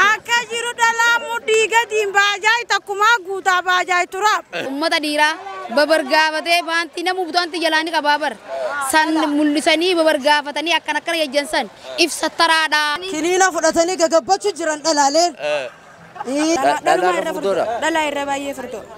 Akka jiru dhalaa muddii gadiin baajaay takkumaa guutaa baajaay turaaf. Ummata dhiiraa babargaafatee baantii namuu butaantii jalaa ni qabaa bar. San mul'isanii babargaafatanii akkan akkana jajjan san ibsattaraadha. Kiniina fudhatanii gagabbachu jiran dhalaaleen. Dhalaa irra furdoo. Dhalaa irra baay'ee furdoo.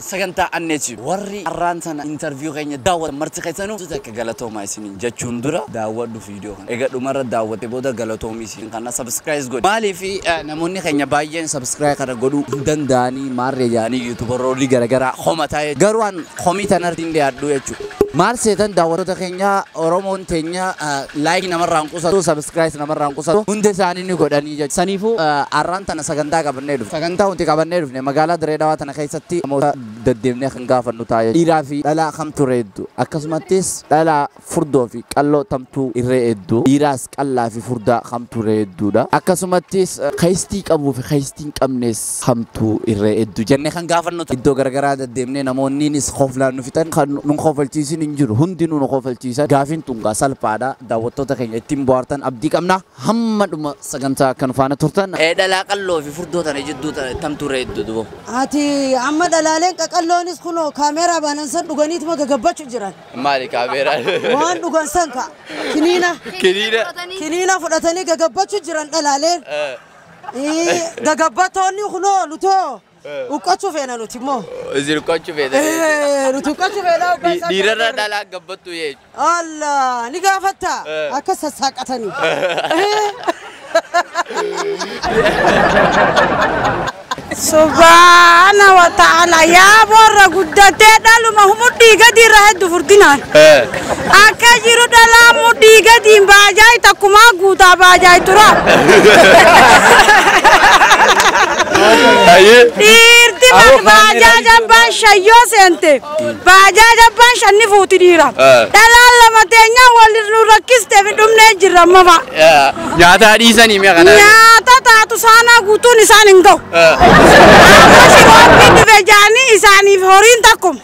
Sagantaa Anneetti warri arraan tana interview keenya daawwatan marti keessanuu guutuu takka galatoomaa isiniin jechuun dura daawwadhu video kana. Eega dhumarra daawwattee booda galatoomii siin kanna subscribes godhi. Maaliif namoonni keenya baay'een subscribe kana godhuu hin danda'anii maarree jedhanii youtuberoolii garagaraa komataa garuu an komii tanarratti hin dhiyaadhuu jechuudha. Maal seetan daawwattoota keenya Oromoon teenya like namarraa hin qusatu subscribes namarraa hin qusatu hunda isaanii ni godhanii jechuudha. Saniifuu arraan tana sagantaa qabannee dhufne. Sagantaa nuti qabannee dhufne magaalaa Diree Dhawaa tana keessatti namoota daddeemnee kan gaafannu ta'a jechuudha. Dhiiraa fi dhalaa kamtu irra hedduu akkasumattis dhalaa furdoo fi qalloo tamtu irra hedduu dhiiraas qallaa fi furdaa kamtu irra hedduudha. Akkasumattis keesstii qabuu fi keesstii hin qabnes hamtuu irree eddu jenne kan gaafannu ta'a. Iddoo garagaraa daddeemnee namoonniinis koflaan nu fixan kan nun kofalchiisin hin jiru. Hundinuu nu kofalchiisan. Gaafiin tun gaa salphaadha. Daawwattoota keenya ittiin bohaartan abdii qabna. Hamma dhuma sagantaa akka nu faana turtan. Dhalaa qalloo fi furdoo tana jidduu tamtu irree eddu dubo? Ati amma dhalaaleen qaqalloonis kunoo kaameeraa baanan san dhuganiituma gagabbachu jiran. Maali kaameeraan? Waan dhugan san ka kiniina Kiniina. kiniina fudhatanii gagabbachu jiran dhalaaleen. Gagabbattoonni kunoo nutoo huqqachuu feena nuti immoo. Isin huqqachuu feena jechuudha. Nuti huqqachuu feena hoggaa isaan Dhiirarra kana dhalaa gabbattuu jechuudha. Alla ni gaafatta Eh. akka sassaaqatanii. Subhaana wa ta'ala yaa boorra guddatee dhaluma humudhii gadi irra heddu furdinaan. Akka jiru dhalaan mudhii gadiin baajaayi takkumaa guutaa baajaayi turaa. Ayyee. Dhiirti Awoo, bar baajaaja abbaan shayyoo seente. Baajaaja abbaan shanni fuuti dhiira. Ah. Dhalaan lama teenyaa wal nu rakkiste fi dhumnee jirra mama. Nyaataa dhiisanii mi'a kana. Nyaata taatu saanaa guutuun isaan hin gahu. Amma shirooppiin dhufe jaanii isaaniif horiin takkuma.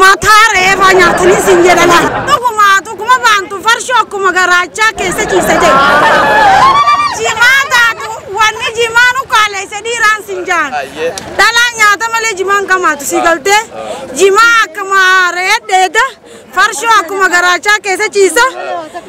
Mataa reefaa nyaatanii siin jedha laa. Dhuguma dhuguma baantu farshoo akkuma garaachaa keessa ciisa jedhu. Jimaa taatu wanni jimaa nu kaaleessa dhiiraan siin jaan. Dhalaa nyaata malee jimaan kamaatu si galtee. Jimaa akkuma re'ee dheeda farshoo akkuma garaachaa keessa ciisa.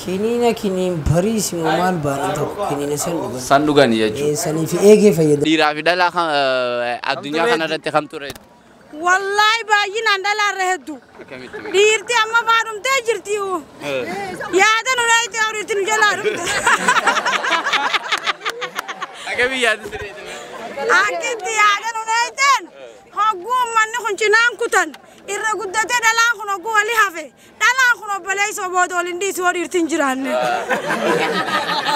Kiniina kiniin bariisi moo maal baanii tokko kiniina san dhugan. San dhugani jechu. Ee sanii fi eegee fayyadamu. Dhiiraa fi dhalaa kan eh, addunyaa kana irratti kamtu irra heddu? Wallaahi baay'inaan dhalaarra heddu. Akkamitti mee? Dhiirti amma faa dhumtee jirti. Yaada nu dhayti awriitti nu jalaa dhumte. Akkamitti yaadu siree jedhame? Akkitti yaada nu dhayteen hogguu ummanni kun cinaan kutan irra guddatee dhalaan kun hogguu wali hafe Dhalaan kun obboleessoo booda ol hin dhiisu yoo dhiirti hin jiraanne.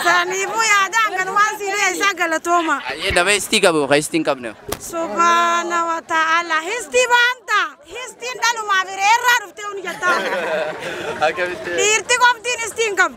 Saniifuu yaadaan kanumaan sii dhiyeessaa galatooma. Ayyee nama histii qabu ka histii hin qabne. Subhaana wa ta'ala histii baanta histiin dhalumaaf hireerraa dhuftee huni jettaa. Akkamitti? Dhiirti qoftiin histii hin qabu.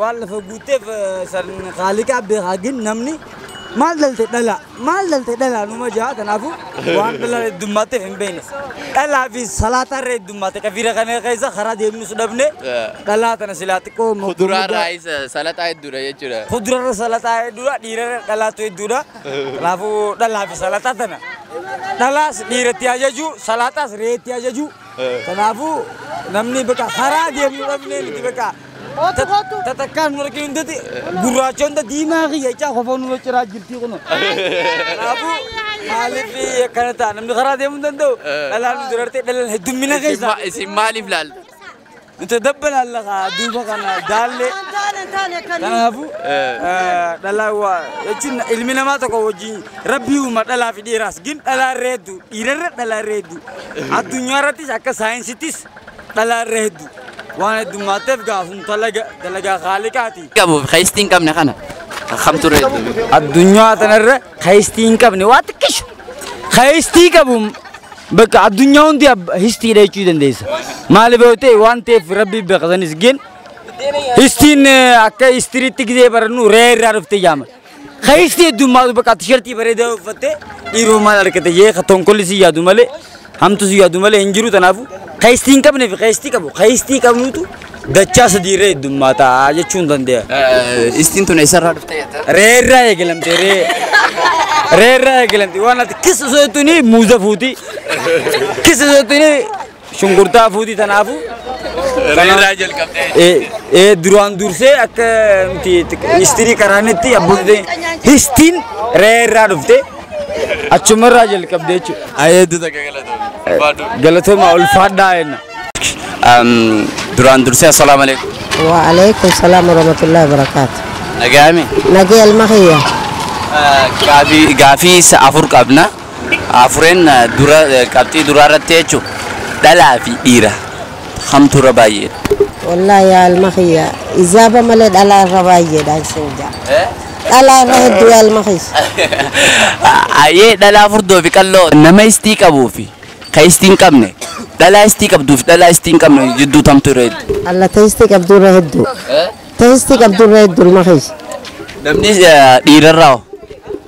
Waan lafa guutteef sarn kaaliqaa beekaa gin namni maal dhalte dhala maal dhalte dhala numa jaa kanaafu waan dhala heddummaatteef hin beekne dhalaa fi salaataa irra heddummaate kafiira kana keessa karaa deemnus dhabne dhalaa tana silaa xiqqoo Kuduraa irraa isa salaxaa hedduudha jechuudha. kudurarra salataa hedduudha dhiirarra dhalaatu hedduudha kanaafuu dhalaa fi salataa tana dhalaas dhiiratti ajaju salataas reetti ajaju kanaafuu namni bakka karaa deemnu dhabnee miti bakka Kootu kootu. Tatakkaan hin arginu hundatti gurraacha hunda diimaa kiyya icaa kofoo nurra ciraa jirtii kuno. Kanaafuu maaliif akkana ta'a namni karaa deemuu hin danda'u dhalaan nu dirartee dhalaan heddummina keessa. Isin maaliif laaltu? Nuti dabba laalla kaa duuba kana daallee. Hin taane hin taane kan. Kanaafuu dhalaa waa jechuun ilmi namaa tokko wajjin rabbii uuma dhalaa fi dhiiraas gin dhalaa irra hedduu dhiirarra dhalaa irra hedduu addunyaa irrattis akka saayinsittis dhalaa irra heddu waan heddummaatteef gaa sun talaga dalagaa khaaliqaati. qabuuf keessi hin qabne kana kamtu irra heddu addunyaa tanarra keessi hin qabne waa xiqqishu keessi qabu bakka addunyaa hundi ab- histiidha jechuu dandeessa maaliif yoo ta'e waan ta'eef rabbi beekasanis gen histiin eh, akka histiriitti gizee barannu ree irraa dhufte jaama Keessi heddummaatu bakka tishartii bareedaa uffattee dhiiroo maal argate jee ka tonkolli si yaadu malee hamtu si yaadu malee hin jiru tanaafu keessi hin qabne fi keessi qabu keessi qabnuutu dachaa sadiirra heddummaata jechuun dandeenya. Istiin tun eessarraa dhufte jetta? Reerraa eegalamte ree. Reerraa eegalamte waan ati kissa sootuni muuza fuuti. Kissa sootuni Shunkurtaa fuuti tanaafu. Reerraa jalqabdee. Ee duraan dursee akka nuti histirii qaraanetti abbootii histiin reerraa dhufte achumarraa jalqabde jechuudha. Ayeetu takka galatoomi. Galatoomaa ulfaadhaa jenna. Duraan dursee assalaamu alaikum. Waalaikum salaam warahmatullahi wabarakatuh. Nagaami. Nagee almakiya. Gaafii afur qabna. Afureen dura qabxii duraa irratti jechu dhalaa fi dhiira kamtu irra baay'eedha? Wallahi yaa ilma kiyya ijaaba malee dhalaa irra baay'eedhaan sin ja'a. Dhalaa irra hedduu yaa ilma kiyya. Hayyee dhalaa furdoo fi qalloo nama istii qabuu fi ka istii hin qabne dhalaa istii qabduu fi dhalaa istii hin qabne jidduu tamtu irra hedduu? Alla ta istii qabduu irra hedduu. Ta istii qabduu irra hedduu ilma kiyya. Namni dhiira irraa hoo?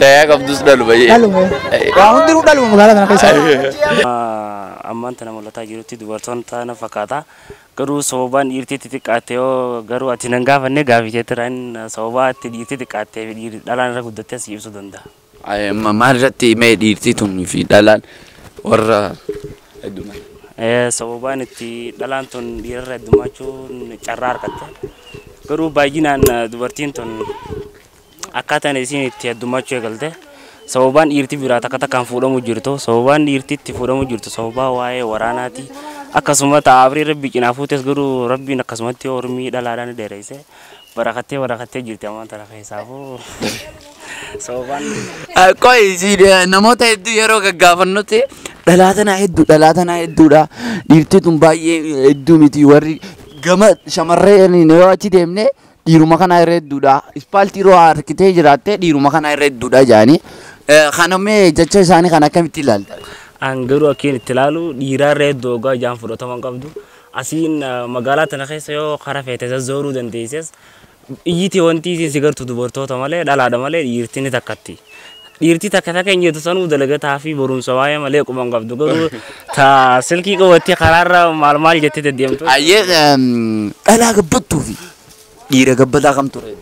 Tayaa qabdus dhalu bayyee. Dhaluma. Waa hundinuu dhaluma magaalaa kana keessaa. ammaan tana mul'ataa jirutti dubartoonni taana fakkaata. Garuu sababaan dhiirtii itti xiqqaatte yoo garuu ati nan gaafanne gaafii keetirraa hin sababaa itti dhiirtii xiqqaattee fi dhiirri dhalaan irra guddattee si ibsuu danda'a. Ay, ma- Maal irratti mee dhiirtii tunii fi dhalaan warra heddummaa. Eh, Sababaan itti dhalaan tun dhiirarra heddummachuun carraa argatte. Garuu baay'inaan eh, dubartiin tun Akkaataan isiin itti heddummachuu eegalte sababaan dhiirti biraa takka takkaan fuudhamu jirtu sababaan dhiirti itti fuudhamu jirtu sababaa waa'ee waraanaati akkasuma ta'a abrii rabbi cinaa fuutes garuu rabbiin akkasumatti ormii dhalaadhaan ni dheereyse barakattee barakattee jirti ammaan tana keessaafuu sababaan Qoy isiin namoota hedduu yeroo gaggaafannutti dhalaa tanaa hedduu dhalaa tanaa hedduudha dhiirti tun baay'ee hedduu miti warri gama shamarreen yoo achi deemne dhiiruma kanaa irra hedduudha ispaaltii irra waa argitee jiraattee dhiiruma kanaa irra hedduudha jaanii kana mee jecha isaanii kan akkamitti ilaalta? An garuu akkiin itti ilaalu dhiiraa irra hedduu ogaa ijaan fudhatama hin qabdu. Asiin eh, magaalaa tana keessa yoo kara feete zazzooruu dandeesses iyyiti wanti isiin si gartu dubartoota malee dhalaadha malee dhiirti ni takkatti. Dhiirtii takka takka hin jettu sanuu dalagataa fi barumsa waa'ee malee quban qabdu garuu ta silkii qabattee karaarra maal maal jettee deddeemtu. Ayyee dhalaa gabbattuu fi dhiira gabbataa kam ture?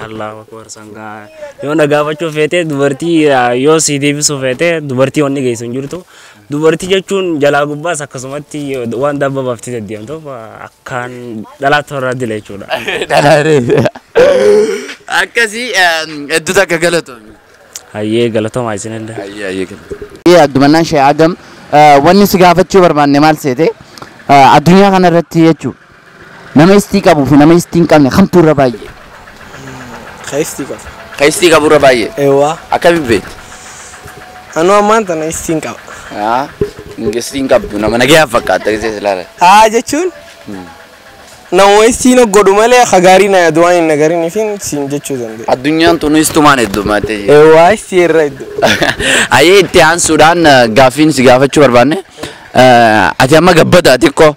Allahu akbar sangaa yoo na gaafachuu feete dubartii yoo si deebisuu feete dubartii wanni geessu hin jirtu Dubartii jechuun jalaa gubbaas akkasumatti waan dabba baaftee deddeemtuuf akkaan dhalaa toorraa dila jechuudha. Dhalaaree. Akkasii hedduu takka galatoomi. Hayyee galatoomaa isinillee. Ayyee ayyee galatoomi. Addumannaan Shee Adam wanni si gaafachuu barbaanne maal seete addunyaa kana irratti jechuudha. Nama istii qabuu fi nama istii hin qabne kamtu irra baay'ee? Ka istii qabu. Ka istii qabu irra baay'ee? Eewwaa. Akkamiin beekte? Anuu ammaan tana istii hin qaba. Haa, istii hin qabdu nama nagayaan fakkaatta gisee si ilaalan. Haa jechuun nama istii na godhu malee ka gaarii na yaadu waan hin nagarin fi siin jechuu danda'a. Addunyaan tun istumaan heddummaatee jirti. Eewwaa istii irra hedduu. Ayyee itti aansuudhaan eh, gaaffiin si gaafachuu barbaanne. Eh, Ati amma gabbada xiqqoo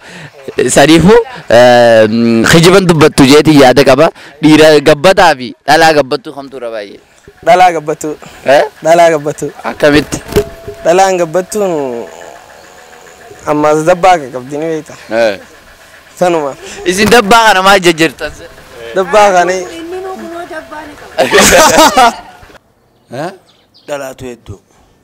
Saniifuu kijiban dubbattu jeetiin yaada qaba. Dhiira gabbataa fi dhalaa gabbattuu kamtu irra baay'ee? Dhalaa gabbattuu. Eh? Dhalaa gabbattuu. Akkamitti? Dhalaan gabbattuun ammaas dabbaa akka qabdi ni beekta. Eh. Sanuma. Isin dabbaa kana maal jajjartan? Dabbaa kana Dhalaatu hedduu.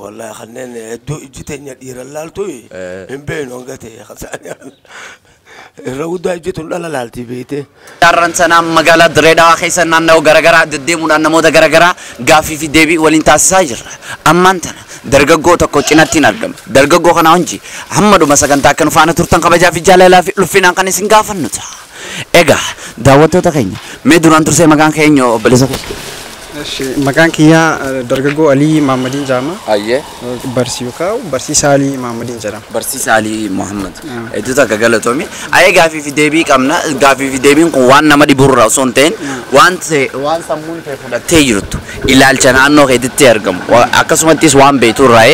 Wallahi kanneen hedduu ijji teenya dhiiran laaltu hin beeknu hanga ta'e kasaanii irra guddaa ijji tun dhala laaltii beektee. Carraan sanaa magaalaa Dirree Dhawaa keessa naannawa garagaraa deddeemuudhaan namoota garagaraa gaaffii fi deebii waliin taasisaa jirra. Ammaan tana dargaggoo tokko cinattiin argama. Dargaggoo kana wajji hamma dhuma sagantaa akka nu faana turtan kabajaa fi jaalalaa fi ulfinaan kan isin gaafannu ta'a. Egaa daawwattoota keenya mee duraan dursee maqaan kee eenyu obboleessa koo? Eshi, maqaan kiyyaa eh, dargaggoo Alii Maammadiin jedhama. Ayyee. Barsi yookaan barsiisaa Alii Maammadiin jedhama. Barsiisaa Alii Muhammad. Hedduu takka galatoomi. Ayee gaafii fi deebii qabna. Gaafii fi deebiin kun waan nama dhiburraa osoo hin ta'in waan ta'e- waan sammuun ta'e fudhattee jirtu ilaalcha naannoo keetitti argamu Wa- akkasumattis waan beekturraa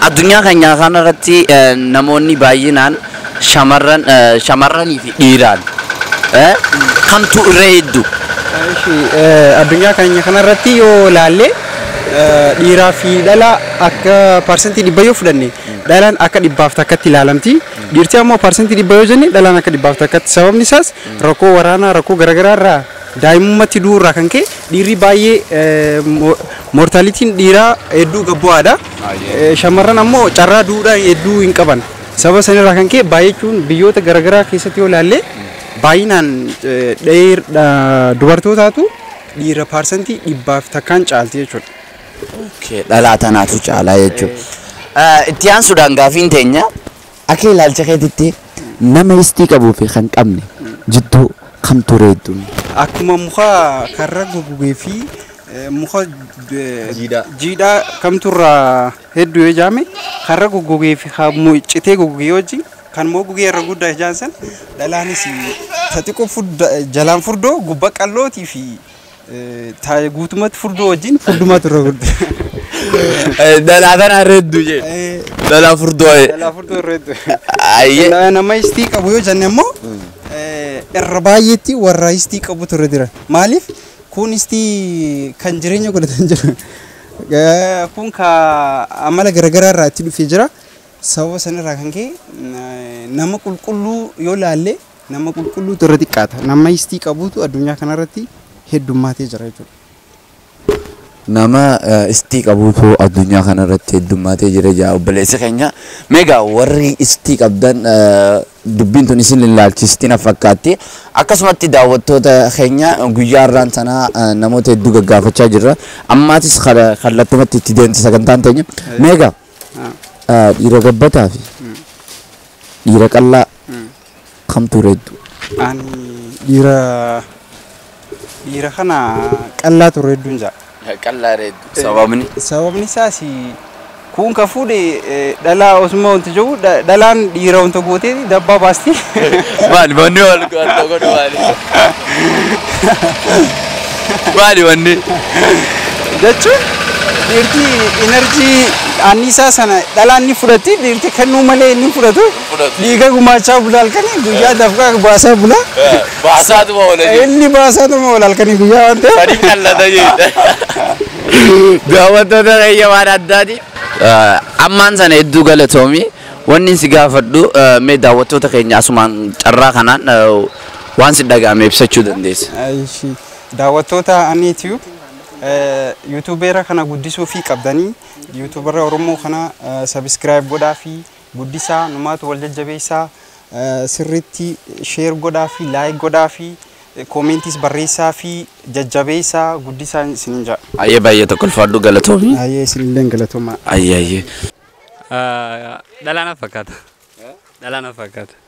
addunyaa keenya kanarratti eh, namoonni baay'inaan Shamarran shamarranii fi dhiiraan eh, kamtu irra hedduu? Ishi, eh, addunyaa keenya kanarratti yoo ilaalle eh, dhiiraa fi dhala akka parsantii dhibba yoo fudhanne dhalaan akka dhibbaaf takkatti ilaalamti dhiirti ammoo parsantii dhibba yoo jenne dhalaan akka dhibbaaf takkatti sababni isaas rakkoo waraanaa rakkoo garaagaraa irraa daa'imummatti du'uu irraa kan ka'e dhiirri baay'ee eh, mo- mortaalitiin dhiiraa hedduu gabbu'aadha Eh, shamarran ammoo carraa du'uudhaan hedduu hin qaban Sababa sanirraa kan ka'e baay'achuun biyyoota garaagaraa keessatti yoo ilaalle baay'inaan dubartootaatu dhiira paarsantii dhibbaaf takkaan caalti jechuudha. Dhalaa tanaatu caalaa jechuudha. Itti aansuudhaan gaafiin teenya akka ilaalcha keetitti nama istii qabuu fi kan qabne jidduu kamtu reedduun? Akkuma muka karra gogogee fi muka jiidhaa kamtu irraa Hedduu yoo ijaame karra goggogee fi citee goggogee wajjin kan immoo gugee irra guddaa ijaan san dhalaanis ta xiqqoo furda jalaan furdoo gubba qallootii fi ta guutumatti furdoo wajjin furdumaatu irra guddaa. Dhalaa tana irra hedduu jee. Dhalaa furdoo. Dhalaa furdoo irra hedduu. Ayyee. Nama istii qabu yoo jenne immoo irra baay'eetti warra istii qabutu irra jira. Maaliif kun istii kan jireenya godhatan jiru. Kun kaa amala garagaraa irraa itti dhufee jira. Sababa san irraa kan ka'e nama qulqulluu yoo laalle nama qulqulluutu irra xiqqaata. Nama istii qabuutu addunyaa kanarratti heddummaatee jira jechuudha. Nama istii qabuutu addunyaa kanarratti heddummaatee jira jedha obboleessi keenya. Mee egaa warri istii qabdan Dubbiin tun isin ilaalchisti na fakkaatti. Akkasumatti daawwattoota keenya guyyaa har'aan tanaa namoota hedduu gaggaafachaa jirra. Ammaatis kallattumatti itti deemti sagantaan teenya. Meega dhiira gabbataa fi dhiira qallaa kamtu reeddu? Ani dhiira Dhiira kana qallaa turre hedduun ja'a. Qallaa reeddu. Sababni? Sababni isaas kuun ka fuudhe dhalaa osuma wanta jiru dhalaan dhiira wanta gootee dabbaa baasti. Maali manni wal wanta godhu maali? Maali manni? Jechuun dhiirti enerjii anniisaa sana dhalaan ni fudhatti dhiirti kennuu malee ni fudhatu. fudhatu. Dhiiga gumaachaa bula halkanii guyyaa dafqaa baasaa bula. Eh, Baasaatuma oola jechuudha. Inni baasaa tuma ol halkanii guyyaa waan ta'eef. Sadiif qallata jechuudha. Daawwattoota keenya waan addaati. Ammaan sana hedduu galatoomi. Wanni si gaafadhu eh, mee daawwattoota keenya asumaan carraa kanaan eh, waan si dhaga'ame ibsachuu dandeessa. Aishi. Daawwattoota Ani Tube yuutuubeera kana guddisuu fi qabdanii yuutuubara Oromoo kana sabiskiraayib godhaa fi guddisaa numaatu wal jajjabeessaa sirriitti share godhaafii like godhaafii comments barreessaafii jajjabeessaa guddisaa isinin ja'a. Ayyee baay'ee tokko ulfaadhu galatoomi. Ayyee isinilleen galatoomaa. Ayyee ayyee. Dhalaa na fakkaata. Dhalaa na fakkaata.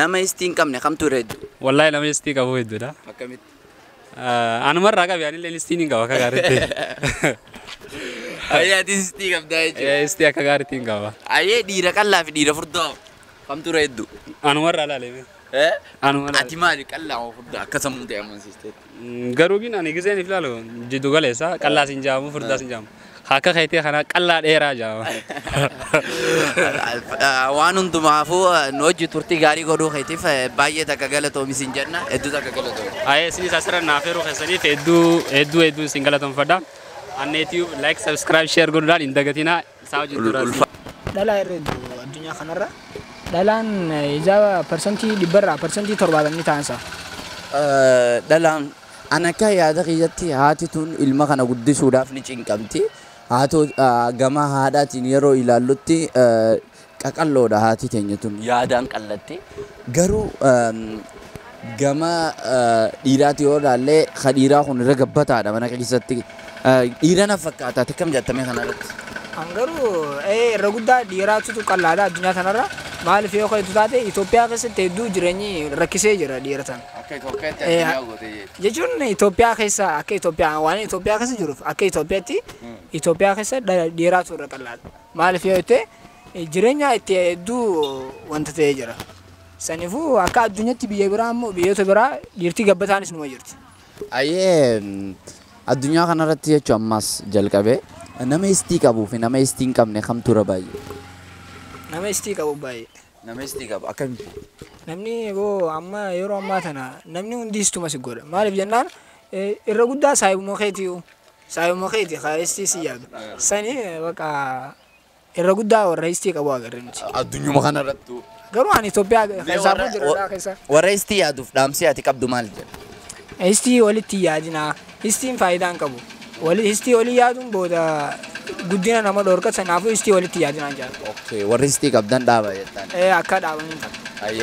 Nama istii hin qabne kamtu irra heddu? Wallahi nama istii qabu hedduudha. Akkamitti? Anuma irraa qabi anillee istii hin qaba akka gaariitti. Ayyee ati istii qabdaa jechuudha. Istii akka gaariitti hin qaba. Ayyee dhiira qallaa fi dhiira furdaa kamtu irra heddu? Anuma irraa ilaalee. Anuma irraa. Ati maali qallaa moo furdaa akka sammuu ta'e amansiisteetti? Garuu gin ani gizeen if laalu jiddu galeessa qallaas hin jaamu furdaas hin jaamu. Akka keetii kanaa qallaa dheeraa jaama. Waan hundumaafuu nu hojii turtii gaarii godhuu keetiif baay'ee takka galatoomi sin jenna hedduu takka galatoomi. Ayee isinis asirra naaf heeruu keessaniif hedduu hedduu hedduu isin galatomfadha. Annee Tube like subscribe share godhuudhaan hin dagatinaa. Isaa hojii Ul- duraa ulfa- sii. Dhalaa irra heddu addunyaa kanarra. Dhalaan hijaaba parsantii dhibbarraa parsantii torbaatam ni taansa. Eh, dhalaan an akka yaada kiyyatti haati tun ilma kana guddisuudhaaf ni cinqamti haa ta'u eh, gama haadhaatiin yeroo ilaallutti eh, qaqal'oodha haati teenya tun yaadaan qal'atti garuu gama dhiiraati yoo ilaallee ka dhiiraa kun irra gabbataadha mana keessatti dhiira na fakkaata ati akkam jaattame kanarratti An garuu ee irra guddaa dhiiraatutu qal'aadha addunyaa kanarra maaliif yoo ka'etu taate Itoophiyaa keessatti hedduu jireenyi rakkisee jira dhiira sana. akka Itoophiyaatti Eh, addunyaa gootee jechuudha. Jechuun Itoophiyaa keessa akka Itoophiyaa waan Itoophiyaa keessa jiruuf akka Itoophiyaatti Itoophiyaa keessa dha- dhiiraatu irra qal'aadha. Maaliif yoo jette jireenyaa itti hedduu wanta ta'ee jira. Sanifu akka addunyatti biyya biraa immoo biyyoota biraa dhiirtii gabbataanis numa jirti. Ayyee addunyaa kanarratti jechuun ammaas jalqabee nama istii qabuu fi nama istii hin qabne kamtu irra baay'ee? Nama istii qabu baay'ee. Nama istii qabu akkamitti? Namni boo amma yeroo ammaa tana namni hundi istuma si godha. Maaliif jennaan irra guddaa saayibuma keetiyu. Saayibuma keeti kaa istii si yaadu. Sani baqa Irra guddaa warra istii qabu agarre nuti. Addunyuma kanarrattu. Garuu ani Itoophiyaa keessaa buu jira keessa. Warra istii yaaduuf dhaamsee ati qabdu maal jedha? Istii walitti yaadinaa. Istiin faayidaa hin qabu. Wali istii walii yaaduun booda guddina nama dhorka sanaafuu istii walitti yaadinaa jedha. Okay, warri istii qabdan dhaaba jettaan. Ee akka dhaabanii ta'a. Ayyee.